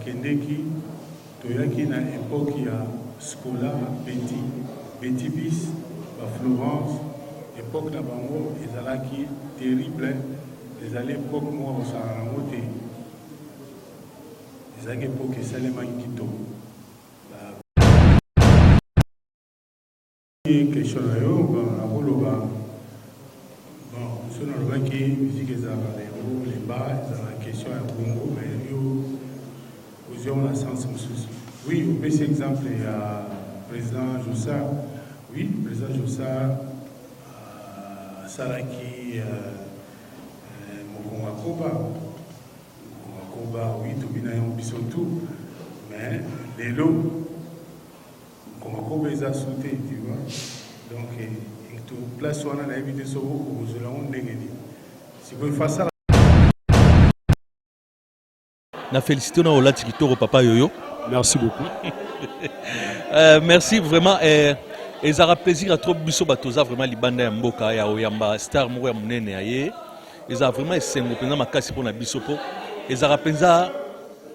bakendeki toyaki na epoke ya scola beti beti bis ba florence epoke na bango ezalaki terrible ezali epoke moko kosala yango te ezalaki epoke esalemaki kitoko question na yo nakoloba bon so nalobaki musique ezalaka na yango lemba ezalaka question ya bongo mais yo ozwi yango na sens mosusu oui opesi exemple ya président josa oui président josa asalaki euh, euh, mokongo akoba mokongo akoba oui tobina yango biso tout mais lelo Koma koba eza su te tu vois donc mutu place wana nayebi te soki okozwela yango ndenge nini sikoyo fasala na félicité na olati kitoko papa yoyo merci beaucoup euh, merci vraiment euh, ezalaka plaisir ya trop biso bato toza vraiment libanda ya mboka ya oyamba star moko ya monene ya ye ezalaka vraiment esengo mpenza makasi mpo na biso mpo ezalaka mpenza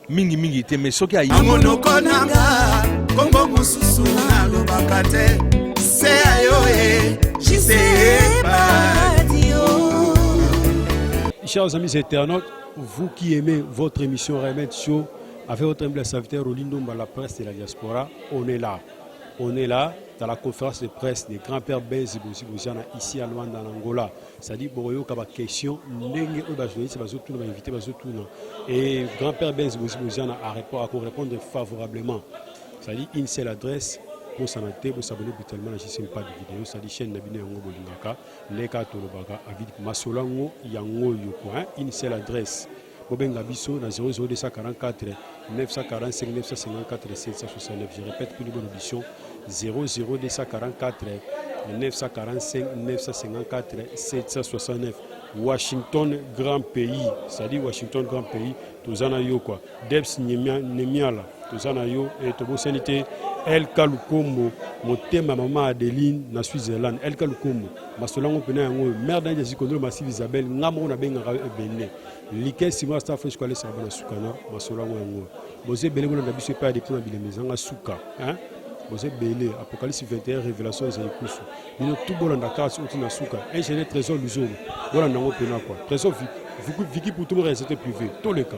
mingi mingi te mais soki ayi monoko nanga kombo mosusu nalobaka te se ya yo e jiseepadio Chers amis internautes, vous qui aimez votre émission Remède Show, avec votre humble serviteur Rolindo Mba, la presse de la diaspora, on est là. On est là dans la conférence de presse des grands-pères Benzi Boziana ici à Luanda, en Angola. Sadi bokoyoka ba question ndenge oyo ba journaliste bazotuna ba invité bazotuna et grand père Benz Bozi Boziana a répondre à répondre favorablement sadi une seule adresse bosana te bosabone brutalement na jcm pas de vidéo sadi chaîne na bino yango bolingaka ndenge kaka tolobaka avid masolo yango yango oyo coin une seule adresse Bobenga biso na 00244 945 954 769. Je répète pour une bonne audition 00244 945 954 769. Washington, grand pays. Ça dit Washington, grand pays. Tozana yo quoi. Debs Nemiala. Tozana yo. Et Tobo Sanité. El Kalukombo. Motema maman Adeline na Switzerland. El Kalukombo. Masolango pena yango. Mère d'Ange Zikondro Massive Isabelle. Ngamoro na benga ebende. like nsima ya staff esiko alesaka bana suka na masolo yango yango boza ebele bolanda biso epai ya depute na bilema ezanga suka boza ebele apocalypse 21 révélation ezali kusu bino tu bolanda kaka soki na suka ingénieur trésor luzolo bolanda yango mpena kua trésor viki pour tout le réalité privé toleka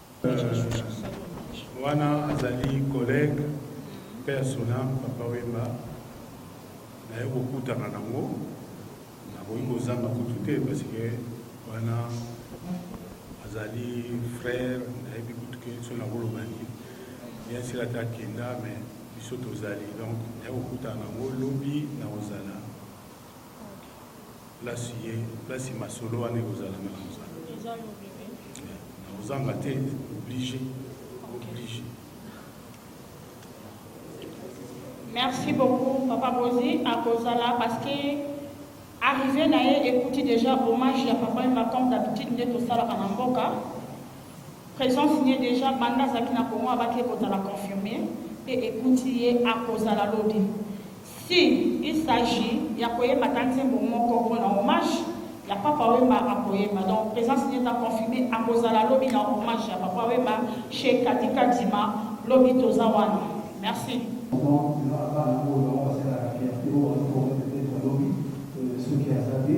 Wana azali collegue paix à son ame papa Wemba naye kokutana nango nakoki kozanga kutu te parce que wana azali frère nayebi kutu ke so nakoloba nini bien sila te akenda mais biso tozali donc naye kokutana nango lobi nakozala Place ye, place masolo wana ekozala na kozala. Eza yo bebe. Na ozanga te, oblige. Oblige. Merci beaucoup Papa Bozi akozala parce que arrivé na ye ekuti déjà hommage ya Papa Emba comme d'habitude nde tosalaka na mboka présence ye déjà banda azalaki na Congo abaki ekozala confirmé mpe ekuti ye akozala lobi Si, il s'agit ya koyemba ata nzembo moko pona hommage ya Papa Wemba akoyemba donc presence naye eza confirme akozala lobi na hommage ya Papa Wemba chez Cathy Kadima lobi toza wana merci. Vraiment eza na bana oyo bango basalelaka fierter oyo bazo former peut-etre lobi soki aza te.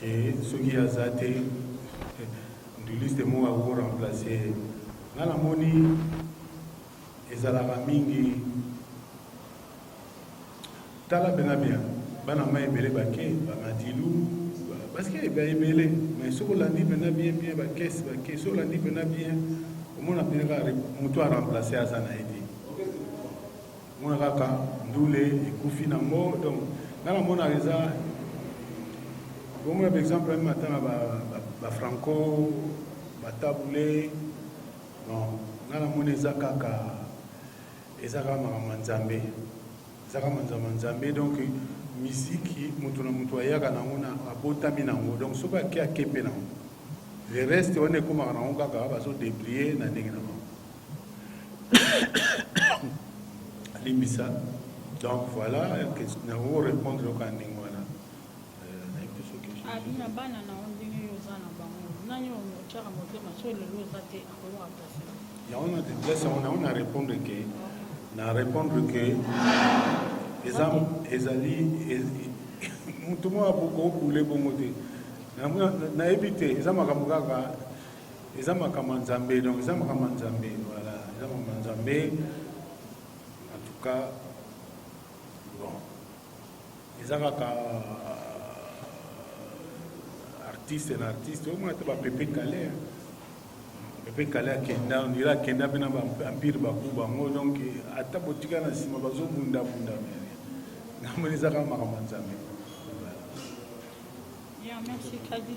ke soki ye aza te nduliste moko ako remplace ye nga namoni ezalaka mingi tala bena bien bana ma ebele bake bamadilu parceke eba ebele mais soki olandi mpena bien bien bakese bake soki olandi mpena bien omona mpena kaka moto aremplace aza na ye te Mona kaka ndule ekufi na ngo donc nga na mona eza bomona par exemple meme ata na ba, ba, ba franco batabule bon nga na mona eza kaka eza kaka makambo ya nzambe eza kaka manzambo ya nzambe donc miziki moto na moto ayaka nango na abotami nango donc soki ake ake mpe nango le reste wana ekomaka nango kaka bazodeplie na ndenge na bango limbisa donc voilà na ko répondre oka ndenge wana abina bana na yo ndenge yo oza na bango nani otyaka motema so lelo oza te akoyoka mpasi yango na deplace yango nango na répondre ke na répondre ke eza ezali moto moko akokobule bongo te nayebi te eza makambo kaka eza makambo ya nzambe donc eza makambo ya nzambe voilà eza makambo ya nzambe en tout cas bon eza kaka artiste na artiste omona te bapepe kale pepe kale akenda ondira akenda mpe na baempire baku bango donc ata botika na nsima bazobundabunda mene namoni eza kaka makambo ya nzambe Yeah, merci, Kadi.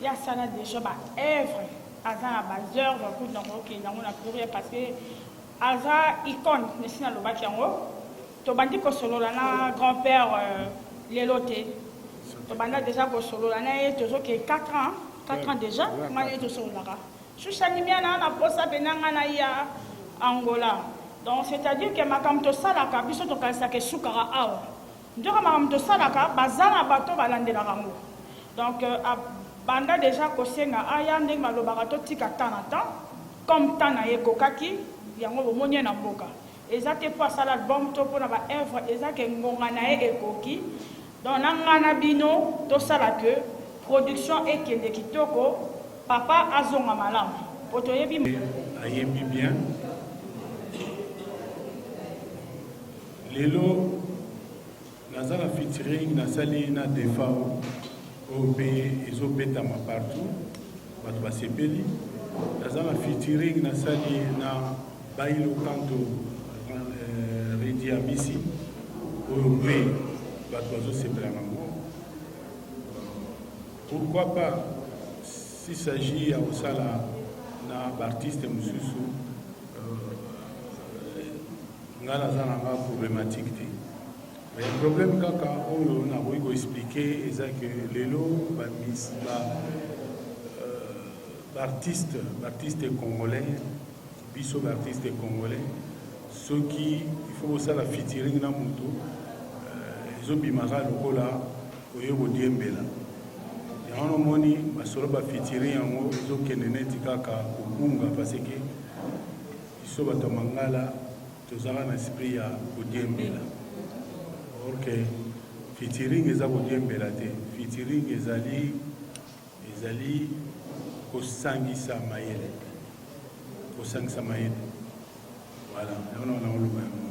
ye asala deja ba œuvre aza na ba œuvre kutu na kokende yango na pluriel parce que aza icone nesi nalobaki yango tobandi kosolola na grand père euh, lelo te tobanda deja kosolola na ye tozoke 4 ans 4 ans deja ngai ye tosololaka sushanimia na na posa mpe na ngai na ya angola donc c'est à dire ke makambo tosalaka biso tokanisaka esukaka awa Nzoka makambo tosalaka baza na bato balandelaka yango donc euh, banda deja kosenga aya ndenge balobaka totika temps na temps comme temps na ye ekokaki yango bomoni ye na mboka eza te mpo asala album to mpo na baœuvre eza ke ngonga na ye ekoki donc na ngai na bino tosala ke production ekende kitoko papa azonga malamu mpo toyebi ayembi bien Lelo naza na featuring nasali na Defao oyo mpe ezobetama partout, bato basepeli. Naza na featuring nasali na Bailo Kanto euh, Redi Amisi oyo mpe bato bazosepela nango. Pourquoi pas s'il s'agit ya kosala na baartiste mosusu Nga naza na nga problematique te mais problème kaka oyo nakoki ko expliquer eza que lelo ba mis ba baartiste euh, baartiste congolais biso baartiste congolais soki il faut kosala featuring na moto euh, ezobimaka lokola oye kodiembela yango nomoni masolo ba featuring yango ezokende neti kaka kobunga parce que Biso bato ya mangala tozalaka na esprit ya kodiembela or que featuring eza kodiembela te featuring ezali ezali kosangisa mayele kosangisa mayele voilà yango na wana oloba yango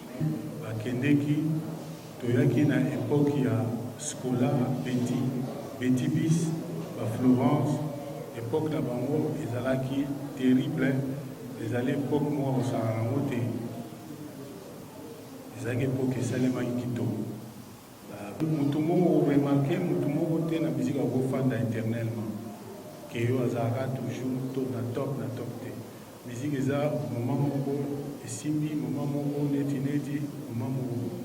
Bakendeki, toyaki na epoque ya Scola, Betty, Betty Bis, ba Florence, epoque na bango ezalaki terrible, ezali epoque moko akosangana na yango te, ezalaki epoque esalemaki kitoko. Mutu moko o remarquer mutu moko te na musique ako fanda eternellement que yo azalaka toujours to na top na top te musique eza moment moko esimbi moment moko neti neti moment moko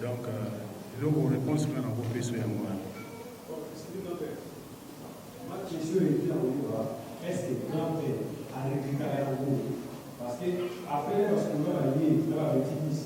donc eloko reponse nga na ko peso yango wana Question est bien au niveau est-ce que grand père a récupéré un coup parce que après parce qu'on a lié dans la bêtise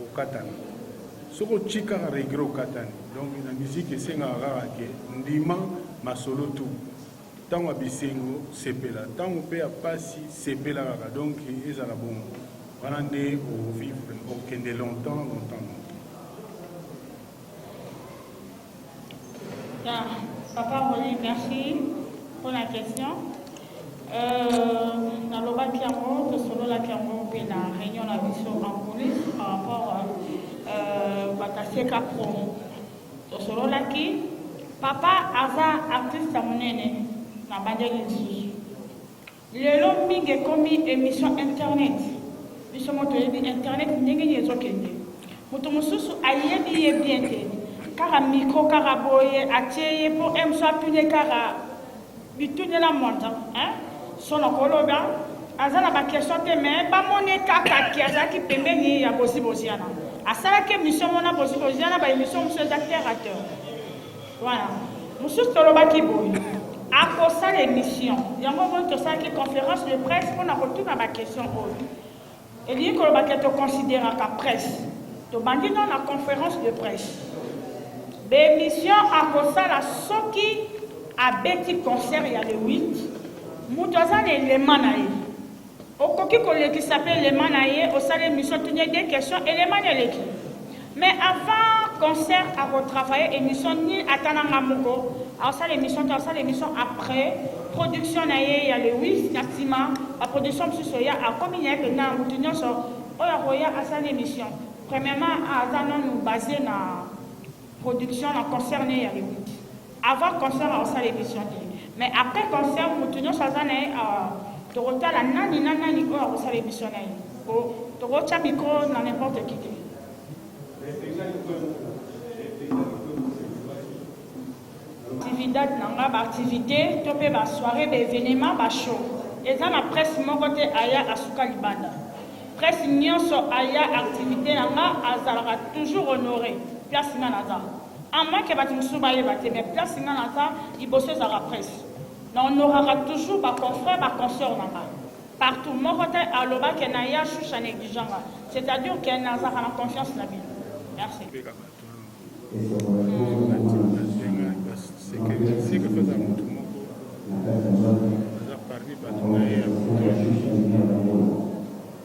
Okatana soki otie kaka regret okatani donc na musique esengaka kaka ke ndima masolo tout ntango ya bisengo sepela ntango mpe ya mpasi sepela kaka donc ezala bongo wana nde ovivre okende longtemps longtemps longtemps Papa Rolly, merci pour la question. Euh, nalobaki yango tosololaki yango mpe na réunion na biso en police par rapport euh, bakaseka promo tosololaki papa aza artiste ya monene na bandeli lisusu Lelo mingi ekomi emission internet biso mo toyebi internet ndenge nini ezokende moto mosusu ayebi ye bien te kaka micro kaka boye atie ye mpo emso atune kaka bitunela moto sono koloba aza na bakestion te me bamoni kaka ke azalaki pembeni ya boziboziana asalaki emission mona boziboziana baemission mosusu eza terre à terre Voilà. Mosusu tolobaki boye akosala émission yango moi tosalaki conférence de presse mpo na kotuna baquestion oyo elingi koloba ke toconsideraka presse tobandi dans la conférence de presse bémission akosala soki abeti concert ya le 8 moto aza na elema na ye Okoki kolekisa pe elema na ye osali emission tuni ye deux questions elema nde eleki mais avant concert ako travailler emission ni ata na nga moko asala emission te asala emission après production na ye ya le 8 na sima ba production mosusu eya akomi na ye pena mutu nyonso oyo akoya asala na emission premièrement aza nanu base na production na concert ne ya le 8 Avant concert nako sala emission te mais après concert mutu nionso aza na ye awa toko tala nani na nani oyo ako sala emission na ye po toko tia micro na n'importe qui te. Actividad na nga ba activite to pe ba soiree ba evenement ba show eza na presse moko te aya asuka libanda presse nionso aya activite na nga azalaka toujours honore place nga naza. A moins que batu mosusu bayeba te mais place nga naza liboso ezalaka presse na honoraka toujours ba confrères ba consoeurs na nga partout moko te aloba que na ya chouche a negligea nga c'est à dire que nazalaka na confiance na bino merci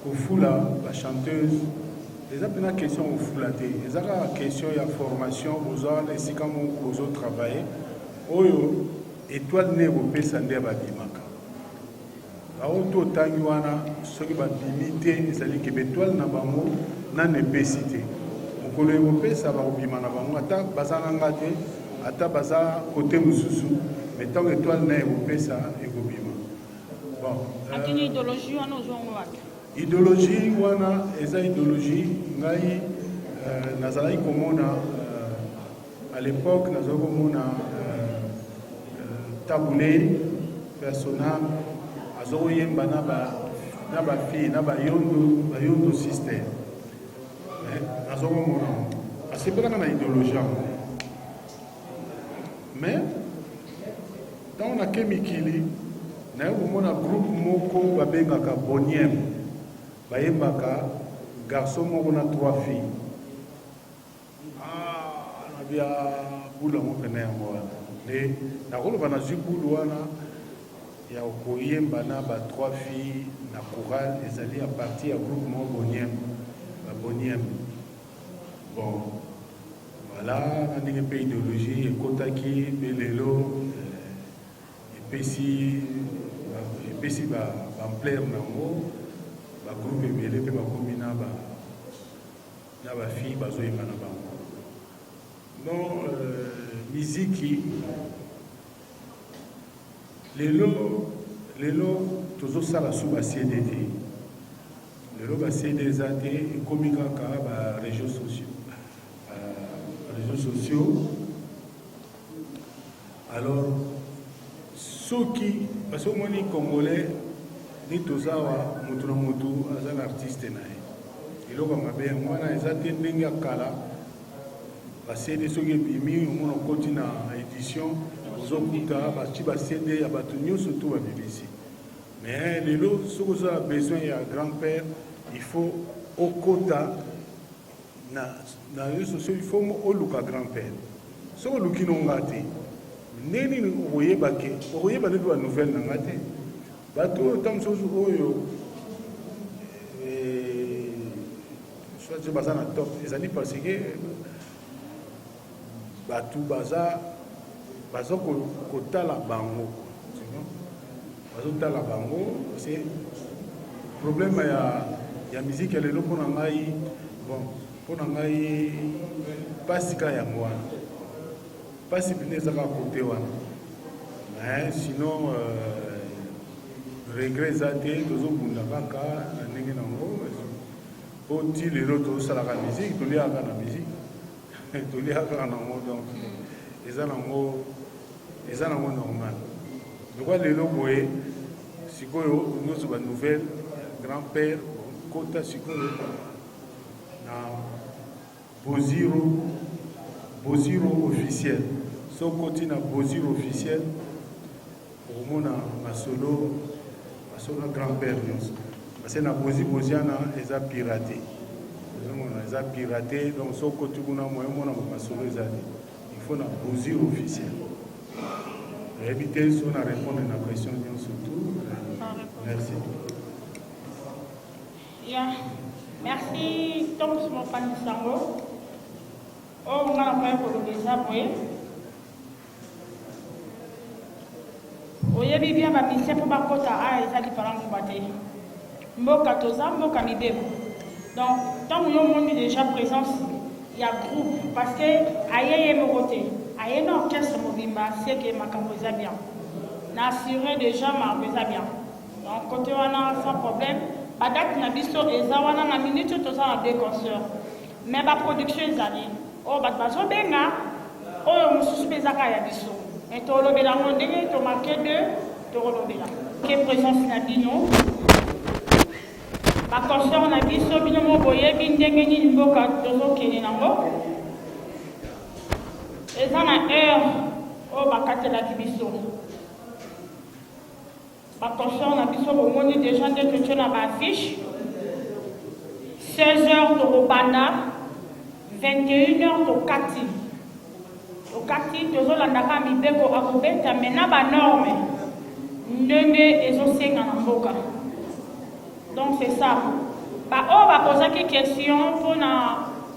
Kofula ba chanteuse eza pena question kofula te eza kaka question ya formation boza wana esika moko bozo travailler oyo etoile nde ekopesa nde babimaka bango to otangi wana soki babimi te ezali ke betoile na bango nani epesi te mokolo ekopesa bakobima na bango ata baza na nga te ata baza kote mosusu me ntango etoile na ekopesa ekobima Akini ideologie wana ozwa yango wapi? Ideologie wana eza ideologie ngai euh, nazalaki komona euh, à l'époque nazalaki komona euh, euh, tabule persona azokoyemba na ba na ba fille na ba yondo ba yondo sister eh, nazokomona asepelaka na ideologie yango Mais ntango nake mikili naye komona groupe moko babengaka boniem bayembaka garçon moko na trois filles ah, nabi ya ah, bulu yango mpena yango wana nde nakoloba nazwi bulu wana ya koyemba na ba trois filles na chorale ezali ya parti ya groupe moko boniem baboniem bon Voilà na ndenge mpe ideologie ekotaki mpe lelo eh, epesi epesi ba ampleur na yango ba groupe ebele mpe bakomi na ba na ba fille bazoyemba na bango non euh, miziki lelo lelo tozosala sous ba cd te Lelo ba CD eza te ekomi kaka ba region sociaux. Uh, region sociaux. Alors soki parce que omoni congolais ni tozawa motu na motu aza na artiste na ye eloko ya mabe yango wana eza te ndenge ya kala basede soki ebimi omona okoti na édition ozokuta bati basede ya bato nyonso to babimisi Mais lelo soki oza na besoin ya grand père il faut okota na na réseaux sociaux il faut oluka grand père soki oluki no nga te ndenge nini okoyeba ke okoyeba nde mpe banouvelle na nga te bato oyo ntango mosusu oyo eh, soit baza na top ezali parce que Batu baza baza kotala bango bazotala bango se problème ya ya miziki ya lelo mpo na ngai bon mpo na ngai mpasi kaka yango wana mpasi mpena eza kaka kote wana mais sinon euh, regret eza te tozobunda kaka na ndenge na yango mpo ti lelo tozosalaka miziki toliaka na miziki toliaka nango donc eza nango eza nango normal lokwa lelo boye sikoyo nyonso ba nouvelle grand père kota sikoyo na boziro boziro officiel so koti na boziro officiel Okomona masolo masolo na grand père nyonso parce na bozi boziana eza pirate ozomona eza pirate donc so okoti kuna moye omona masolo eza te il faut na bozi officiel nayebi te so na répondre na question nyonso tout merci ya merci tokosi mopanzi sango oyo nga nakoya koloba eza boye Oyebi bien ba musiciens po ba kota aya ah, eza lipalan kuba te. Mboka toza mboka mibeko. Donc tango yo moni déjà présence ya groupe parce que aye ye moko te. Aye na orchestre mobimba c'est que makambo eza bien. Na assurer déjà makambo eza bien. Donc côté wana sans problème. Ba date na biso eza wana na minute toza na deux concerts. Mais ba production ezali oyo batu bazo benga oyo mususu pe eza kaka ya biso mais tolobela yango ndenge to marque de tokolobela ke presence na bino ba concert na biso bino moko boyebi ndenge nini mboka tozokende nango eza na heure oyo bakatelaki biso Ba concerts na biso bomoni dejà nde totie na ba affiches. 16 heures tokobanda, 21 heures tokati. Tokati tozolanda kaka mibeko akobeta mais na ba normes ndenge ezosenga na mboka. Donc c'est ça. Ba oyo bakozaki question mpo na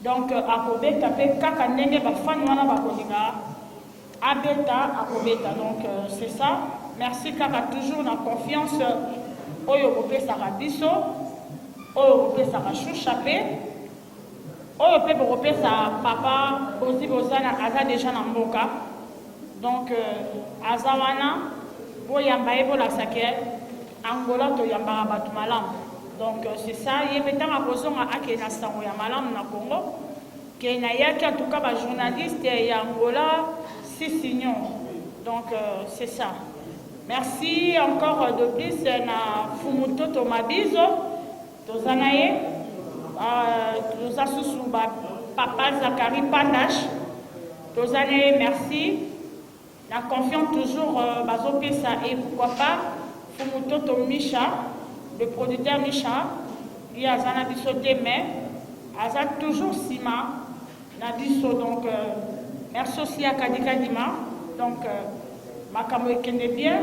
Donc akobeta pe kaka ndenge ba fan wana bakolinga abeta akobeta donc c'est ça merci kaka toujours na confiance oyo bopesaka biso oyo bopesaka shusha pe oyo pe bokopesa papa bozi bozana aza deja na mboka Donc aza wana boyamba ye bolakisa ke Angola toyambaka bato malamu donc c'est ça ye mpe ntango akozonga akei na sango ya malamu na Congo ke nayaki en tout cas ba journaliste ya Angola sisinio donc euh, c'est ça merci encore de plus na Fumutoto Mabizo Toza na ye toza susu ba papa Zachary Pandash toza na ye merci na confiance toujours euh, bazopesa et pourquoi pas Fumutoto Misha le producteur Misha ye aza na biso te mais aza toujours nsima na biso donc euh, merci aussi ya kadikadima donc euh, makambo ekende bien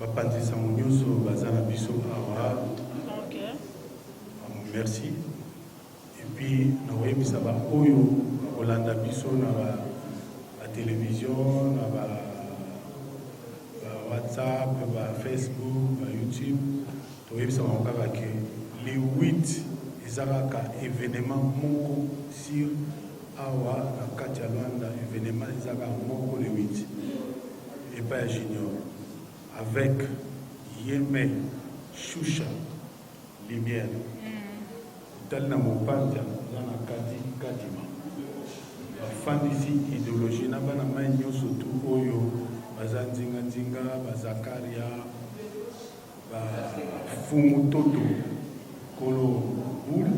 Bapanzi sango nyoso baza na biso awa. Okay. Merci. Et puis nakoyebisa ba oyo bakolanda biso na ba, ba television na ba, ba WhatsApp, ba Facebook, ba YouTube. Toyebisa bango kaka ke le 8 eza kaka evenement moko sur Awa na kati ya Luanda evenement eza kaka moko le 8 epai ya Junior avec Yeme Shusha Lumière mm. otali na Mopanja oza na Kadi Kadima bafandisi ideologie na bana mai nyonso tu oyo baza nzinganzinga bazakaria Ba fungu toto kolo boule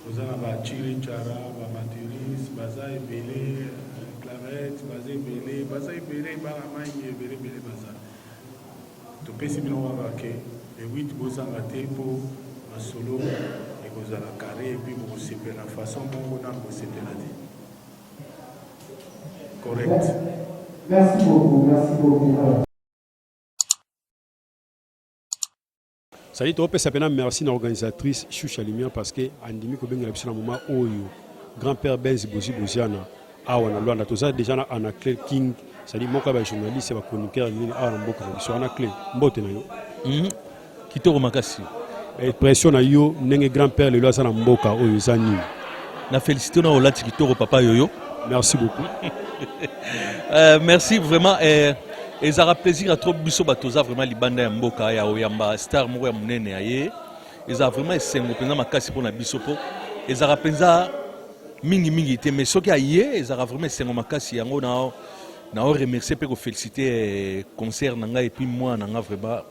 oza na ba chili chara ba materis baza ebele clarette baza ebele baza ebele bana mangi ebele ebele baza topesi bino waka ke le 8 bozanga te mpo masolo ekozala carré epuis bokosepela façon moko nanu bosepela te Correct. Merci beaucoup, merci beaucoup. Sali topesa pena merci na organisatrice Shusha Lumière parce que andimi kobengela biso na moment oyo grand père Benz Bozi Boziana awa na Luanda toza déjà na Anna Claire King sali moko ya ba journaliste ya ba chroniqueur nini awa na mboka na biso Anna Claire mbote na yo mm -hmm. kitoko makasi pression na yo ndenge grand père lelo aza na mboka oyo eza nini na félicité na olati kitoko papa yoyo merci beaucoup euh, merci vraiment eh, ezalaka plaisir ya trop biso bato oza vraiment libanda ya mboka ya oyamba star moko ya monene ya ye ezalaka vraiment esengo mpenza makasi mpo na biso mpo ezalaka mpenza mingimingi te mais soki aye ezalaka vraiment esengo makasi yango na nao remercier mpe kofélicite eh, concert na ngai epuis mwana na ngai vraiment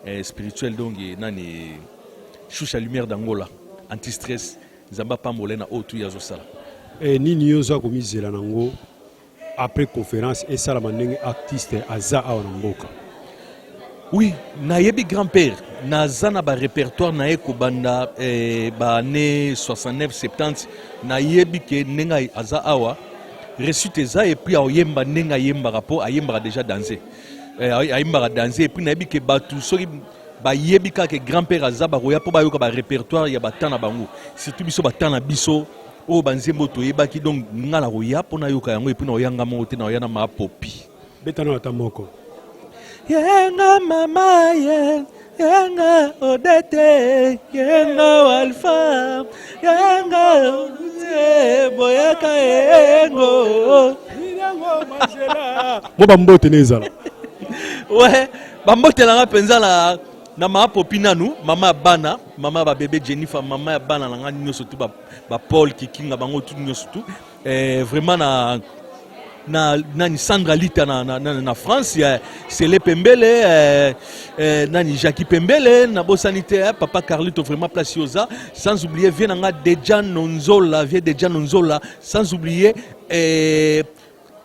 eh, spirituel donc eh, nani shusha lumière d'angola anti stress nzambe apambola ye na oyo tu ye azosala eh, nini yo oza komizela na yango après conférence esalama ndenge artiste aza awa na mboka oui nayebi grand père naza na barépertoire na ye kobanda eh, baannée 69 70 nayebi ke ndenge aza awa resite eza epuis aoyemba ndenge ayembaka mpo ayembaka déjà danse Eh, ayimbaka danse epuis nayebi ke bato soki bayebi kaka grand père aza bakoya mpo bayoka barépertoire ya bata na bango surtout biso bata na biso oyo banzembo toyebaki donc nga nakoya mpo nayoka yango epuis naoya nga moko te naoya na mapopi betana ata moko yenga mama ye Yanga Odete, Yanga Alpha, Yanga Boyaka Yengo. Mo ba mbote nezala. Ouais, ba mbote langa penza la na ma popi nanu mama ya bana mama ya babebe jennifer mama ya bana na ngai nyonso tu bapaul kikinga bango tu nyonso tu eh, vraiment na na nani Sandra Lita na, na, na, na France ya Sele Pembele eh, eh, nani Jackie Pembele na bosani te eh, papa Carlito vraiment place yoza sans oublier vieux nanga Dejan Nonzola vieux Dejan Nonzola sans oublier eh,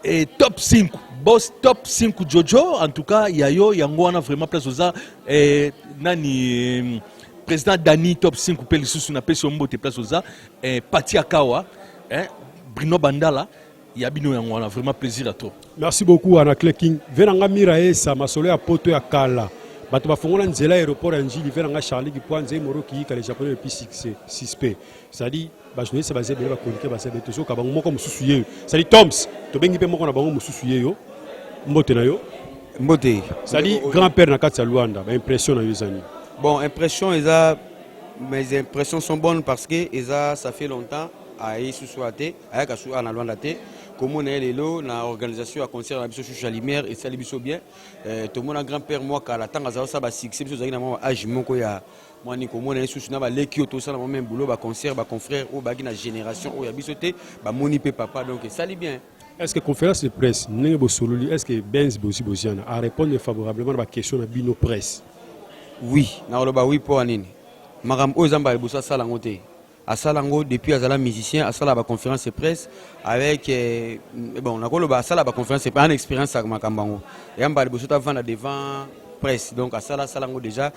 eh, top 5 boss top 5 Jojo en tout cas yayo yango wana vraiment place yoza eh, nani eh, président Dani top 5 mpe lisusu na pesi yo mbote place oza eh, pati akawa eh, brino bandala ya bino yango wana vraiment plaisir à trop merci beaucoup ana cleking ve na nga mira esa masolo ya poto ya kala bato bafongola nzela aéroport ya njili ve na nga charli kipwanze moro kiyika le japonais le plus suspect c'est-à-dire bajournaliste baza ebele bakonike baza ebele tozoka bango moko mosusu yeyo c'est-à-dire toms tobengi mpe moko na bango mosusu yeyo mbote na yo mbote c'est-à-dire grand père na kati ya luanda baimpression na yo ezani bon impression eza mes impressions sont bonnes parce que eza ça fait longtemps aye susu a te ayaka susu a na lwanda te komona ye lelo na organisation ya concert na biso susu ya lumière esali biso bien euh, tomona grand père mwa kala ntango azala osala basuccès biso ozalaki na mwa age moko ya mwani komona ye susu na baleki oyo tosala mwa meme boulot baconcert baconfrère oyo bayaki na génération oyo ya biso te bamoni mpe papa donc esali bien Est ce que conférence de presse ndenge bosololi est ce que Benz bosi boziana a répondre favorablement na ba question na bino presse? Oui, nakoloba oui mpo ya nini? Makambo oyo Zamba liboso asala yango te. Asala yango depuis azala musicien, asala ba conférence de presse avec eh, bon nakoloba asala ba conférence de presse, ana expérience ya makambo yango. Yamba liboso tavanda devant presse donc asala asala yango déjà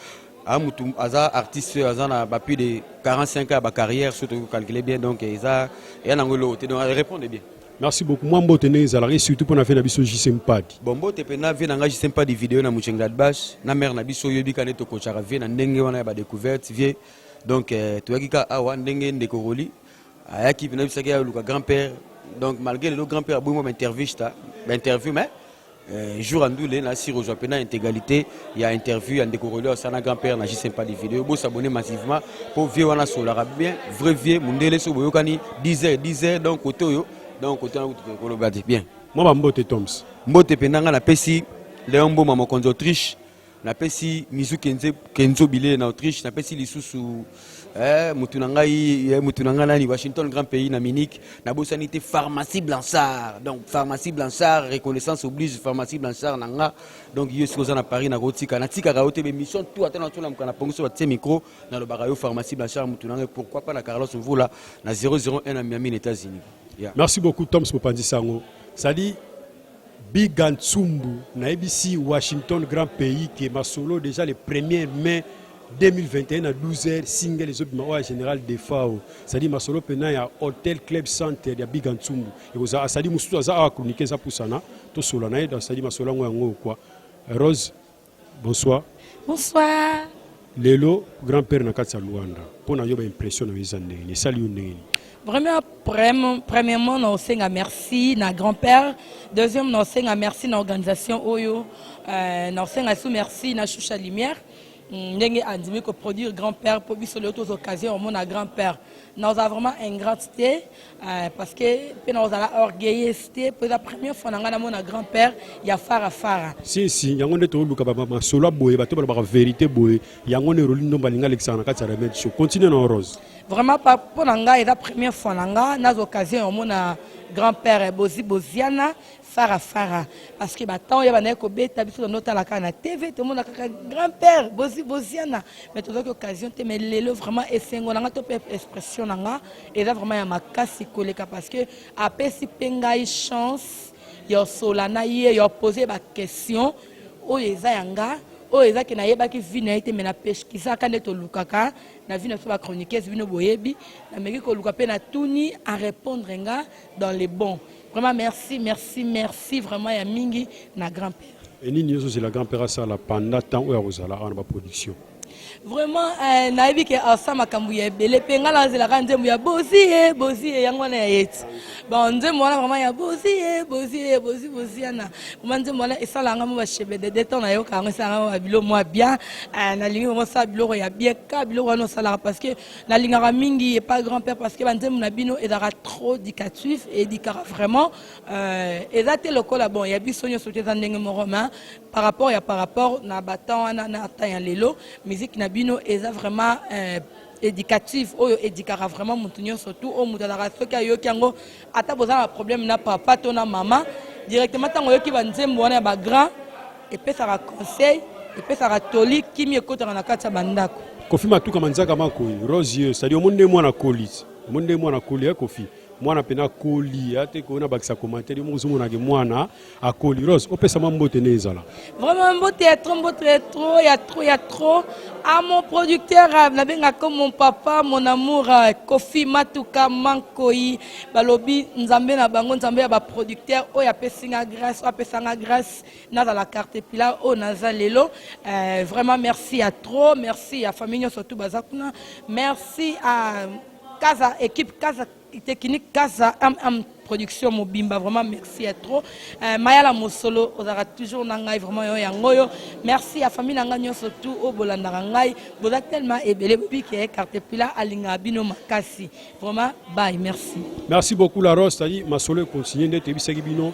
a mutu aza artiste aza na ba plus de 45 ans ya ba carrière surtout ko calculer bien donc eza ya nango eloko te donc répondre bien merci beaucoup mwa mbote ndenge ezalaka surtout mpo na vie na biso jc mpadi bon mbote mpenza vie na ngai jc mpadi video na muchengladbash na mare na biso oyebi ka nde tokocaka vie na ndenge wana ya badecouverte vie donc euh, toyaki ka awa ndenge ndeko roli ayaki mpenza bisaki aluka grand père donc malgré lelo grand père aboyi mwa baintervista bainterview mais Euh, jour à ndoule na si rejoint pena intégralité il y a interview il y a ndeko relais ça na grand père na juste pas des vidéos beau s'abonner massivement pour vieux wana solara bien vrai vieux mundele so boyokani 10 heures 10 heures donc côté yo donc côté na kutu koloba bien moi ba mbote toms mbote pena nga na pesi Léon Boma mokonzi Autriche napesi mizu kenze kenzo bile na autriche napesi lisusu eh, motu na ngai eh, motu na ngai nani washington grand pays na munich nabosani te pharmacie blanchard donc pharmacie blanchard reconnaissance oblige pharmacie blanchard na nga donc yo soki oza na paris nakotika natikaka yo te bemission tu ata natolamuka na pongiso batie micro nalobaka yo pharmacie blanchard motu na ngai pourquoi pas na carlos mvula na 001 na miami na états-unis yeah. merci beaucoup toms mopanzi sango sadi Biga Nsumbu, nayebisi Washington grand pays que masolo deja le 1er mai 2021 na 12h single ezobima oyo ya général defao cestadire masolo mpena ya hotel club center ya biga nsumbu ekozala asadi mosusu aza awa kronike eza pusana tosola na ye cestadire masolo yango yango okwa rose Bonsoir. Bonsoir. Lelo grand père na kati ya Luanda mpo na yo ba impression na yo eza ndenge nini esali yo ndenge nini Vraiment, prem- premièrement, na osenga merci na grand-père. Deuxième, na osenga merci na organisation oyo. Euh, na osenga sous merci na Choucha Lumière. Mm, ndenge andimi ko produire grand-père po biso leo tozo occasion omona grand-père. Na oza vraiment ingrate te. Uh, parce que mpe na kozala orgueilleuse te mpo eza première fois na ngai namona grand père ya fara fara si si yango nde tooluka masolo ya boye bato balobaka verité boye yango nde eroli ndomba alingi alekisaka na kati ya remède show continue na orose vraiment mpo na ngai eza première fois na ngai naza occasion ya komona grand père bozi boziana fara fara parce que batemp ya bandaki kobeta biso tondo otala kaka na tv tomona kaka grand père bozi boziana mais tozwaki occasion te mais lelo vraiment esengo na ngai to mpe expression na ngai eza vraiment ya makasi koleka parce que apesi mpe ngai chance ya osola na ye ya opose baquestion oyo eza ya nga oyo eza ke nayebaki vi na ye te me napeshkisaka nde tolukaka na vi na biso bachroniquese bino boyebi nameki koluka mpe natuni arépondre nga dans le bon vraiment merci merci merci vraiment ya mingi na grand père enini yo ozozela grand père asala panda temps oyo akozala awa na baproduction vraiment eh, nayebi ke asa makambo ya ebele mpe ngai nazelaka nzembo ya bozie bozie yango wana ya yeti bon nzembo wana vraiment ya bozie bozie bozi bozi yana vraimen nzembo wana esalaka ngai mo bashebe de detan nayoka yango esalaka ngai babilo mwa bien eh, nalingi vraimen osala biloko ya bien ka biloko wana osalaka parce que nalingaka mingi epa grand père parce que banzembo na bino ezalaka trop dicatif edikaka vraiment Euh, eza te lokola bon ya biso nyonso te eza ndenge moko ma par rapport ya par rapport na batemp wana na temps ya lelo miziki na bino eza vraiment euh, éducative oyo edikaka vraiment motu nyonso tu oyo motu azalaka soki ayoki yango ata boza na problème na papa to na mama directement ntango oyoki banzembo wana ya bagrand epesaka conseil epesaka toli kimi ekotaka na kati ya bandako kofi matuka manzaka makoyi rose yeux sadi omoni nde mwana kolisi omoni nde mwana koli ya kofi mwana pena akoli ate koyona bakisa commentaire yo moko ozomonake mwana akoli rose opesa mwa mbote nde ezala vraiment mbote ya trop mbote ya trop ya trop ya trop a mon producteur euh, nabengaka mon papa mon amour euh, kofi matuka mankoi balobi nzambe na bango nzambe ya baproducteur oyo apesi nga grâce oyo apesa nga grâce nazala carte pila oyo naza lelo euh, vraiment merci ya trop merci ya famille nyonso tu baza kuna merci à Kaza équipe Kaza technique Kaza MM production mobimba vraiment merci ya trop euh, mayala mosolo ozalaka toujours na ngai vraiment yo yango oyo merci ya famille na ngai nyonso tu oyo bolandaka ngai boza tellement ebele bobi ke carte pila alingaka bino makasi vraiment bye merci merci beaucoup la rose tadi masolo econtinue nde toyebisaki bino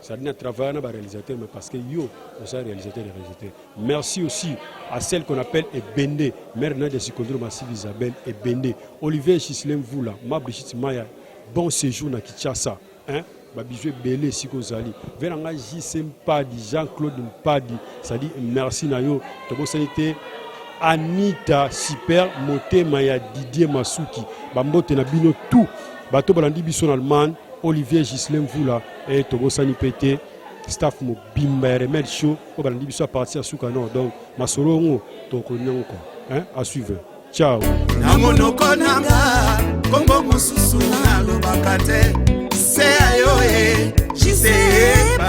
Ça dit, travailler avec les réalisateurs, mais parce que yo, on s'est réalisateur et réalisateur. Merci aussi à celle qu'on appelle Ebende, mère de Sikondro Massive Isabelle Ebende, Olivier Chislem Voula, ma Brigitte Maya, bon séjour na Kinshasa. Hein? babizwi ebele esika ozali ve na ngai jc mpadi jean claude mpadi sadi merci na yo tobosani te anita super motema ya didier masuki bambote na bino tout bato balandi biso na allemagne olivier gislem vula e tobosani mpe te staff mobimba ya remède show oyo balandi biso ya parti ya suka nord donc masolo yango tokokomi yango kua à suivre ciao na monoko nanga nkombo mosusu nalobaka te se ya yo e jiseebadio